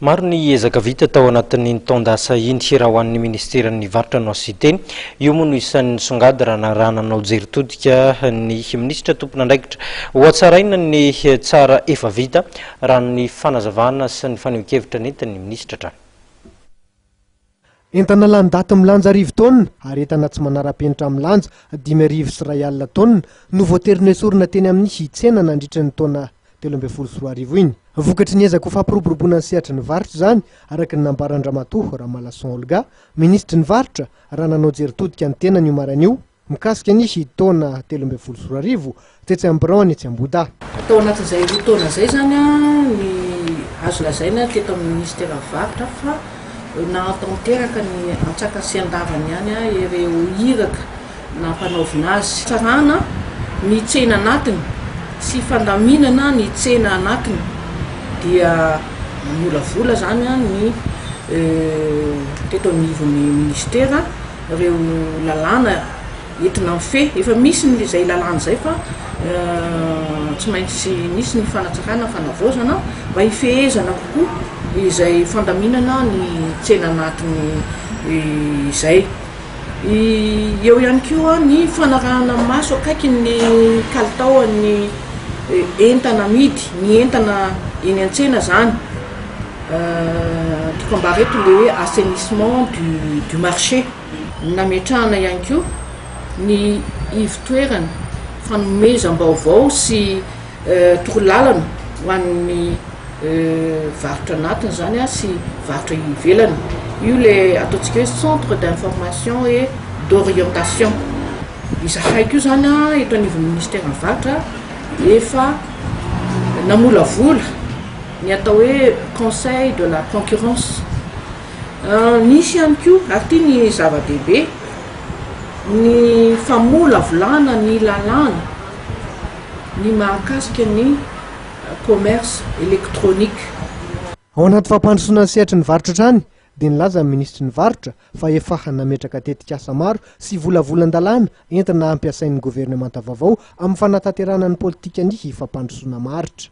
Maro ny ezaka vita tao anatin'iny taon-dasa iny raha ho an'ny minisiteran'ny varotra no hasite. Io moa no isan'ny nisongady raha nanao jery todika ny minisitra tompon'andraikitra. Hohatsaraina ny tsara efa vita, raha ny fanazavana sy ny fanehoan-kevitra nentin'ny minisitra hatrany. Entana lany daty milanja arivo taonina ary entana tsy manara-penitra milanja dimy arivo sy iray alina taonina no voatery noesorina teny amin'ny tsena nandritry ny taona telo ambin'ny folo sy roa arivo iny. Vokatry ny ezaka ho fampiroboroboana ny sehatry ny varotra izany, araka ny nambaran-dRamatoa Ramalason Olga, Minisitry ny Varotra, raha nanao jery todika ny tenany io maraina io. Mikasika ny taona telo ambin'ny folo sy roa arivo, tetsy amin'ny biraony etsy Ambohidahy. Tao anatin'izay roa taona izay izany ny azo lazaina teto amin'ny Minisiteran'ny Varotra fa nahatanteraka ny antsakasiandavany ihany ireo iraka nampanaovina azy. Fitsarana ny tsena anatiny sy fandaminana ny tsena anatiny dia namolavola izany ny teto anivon'ny Minisitera. reo lalàna entina mifehy, efa misy ny izay lalàna izay fa tsy maintsy misy ny fanatsarana ny fanavaozana mba hifehezana kokoa izay fandaminana ny tsena anatiny izay. Eo ihany koa ny fanarahana maso akaiky ny kalitaon'ny entana amidy, ny entana eny an-tsena izany. Tokam-bary eto ilay hoe assainissement du du marché. Nametrahana ihany koa ny ivotoerana fanomezam-baovao sy torolalana ho an'ny varotra anatiny izany sy varotra ivelany. Io ilay ataontsika hoe centre d'information et d'orientation. Izahay koa izany eto anivon'ny minisiteran'ny varotra efa namolavola. ny atao hoe conseil de la concurrence nisy ihany koa ary ity ny zava-dehibe ny famolavolana ny lalàna ny mahakasika ny commerce électronique. Ao anaty fampandrosoana ny sehatry ny varotra hatrany dia nilaza ny minisitry ny varotra fa efa nametraka tetikasa maro sy volavolan-dalàna entina hampiasain'ny governemanta vaovao amin'ny fanatanterahana ny politikan'ny fampandrosoana maharitra.